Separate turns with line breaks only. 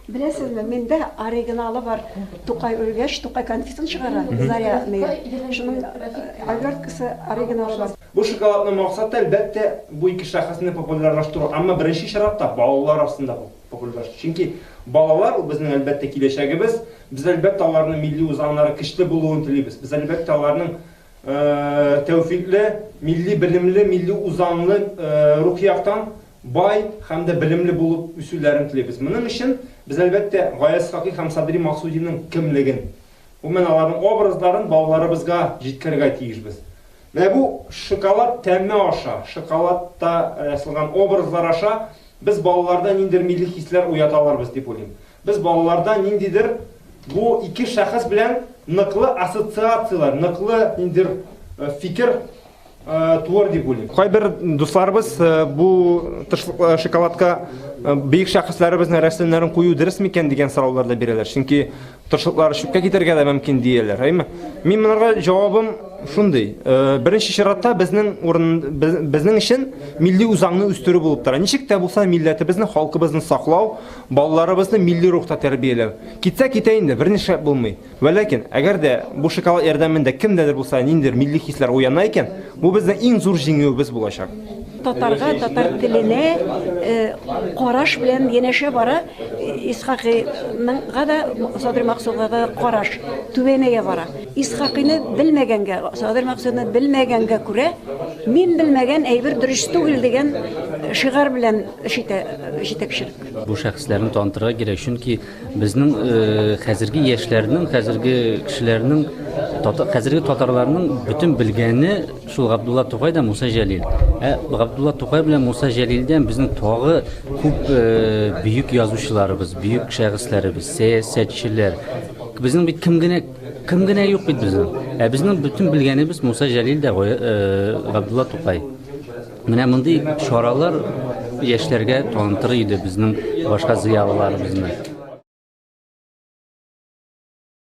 Беләсезме, миндә оригиналы бар. Тукай үлгәч, Тукай конфетын чыгара, Заря мия. Шуның оберткасы оригиналы бар. Бу шоколадның максаты,
әлбәттә, бу ике шәхесне популярлаштыру, әмма беренче чиратта балалар арасында популярлаштыру. Чөнки балалар ул безнең, әлбәттә, киләчәгебез. Без, әлбәттә, аларның милли үзаңнары көчле булуын телибез. Без, әлбәттә, аларның тәүфикле, милли белемле, милли үзаңлы рухи яктан бай һәм дә белемле булып үсүләрен телибез. Моның өчен без, әлбәттә, Гаяз Хакый һәм Садри Максудиның кемлеген, гомумән, аларның образларын балаларыбызга җиткерергә тиешбез. Менә бу шоколад тәме аша, шоколадта ясалган образлар аша без балаларда ниндидер милли хисләр уята алырбыз дип уйлыйм. Без балаларда ниндидер бу ике шәхес белән ныклы ассоциацияләр, ныклы ниндидер фикер творди були. Кайбер дусларыбыз э, бу э, шоколадка э, бөек шәхесләребезнең рәсемнәрен кую дөрес микән дигән сораулар да бирәләр. Чөнки тырышлыклары чүпкә китәргә дә мөмкин дияләр, әйме? Мин монарга җавабым шундый. Беренче чиратта безнең урын безнең өчен милли үзаңны үстерү булып тора. Ничек тә булса милләтебезне, халкыбызны саклау, балаларыбызны милли рухта тәрбияләү. Китсә китә инде, берничә булмый. Вә ләкин, әгәр дә бу шоколад ярдәмендә кемдә дә булса ниндидер милли хисләр уяна икән, бу безнең иң зур җиңүебез булачак. Татарга,
татар теленә караш белән янәшә бара Исхакыйныңга да, Садыр Максудга да караш түбәнәя бара. Исхакыйны белмәгәнгә, Садыр Максудны белмәгәнгә күрә, мин белмәгән әйбер дөрес түгел дигән шигарь белән эш итә җитәкчелек. Бу шәхесләрне
танытырга кирәк, чөнки, Безнең хәзерге яшьләрнең, хәзерге кешеләрнең, хәзерге татарларның бөтен белгәне шул Габдулла Тукай да Муса Җәлил. Ә Габдулла Тукай белән Муса Җәлилдән безнең тагы күп бөек язучыларыбыз, бөек шәхесләребез, сәясәтчеләр. Безнең бит кем генә кем генә юк бит безнең. Ә безнең бөтен белгәнебез Муса Җәлил дә Габдулла Тукай. Менә мондый чаралар яшьләргә танытыр иде безнең башка зыялыларыбызны.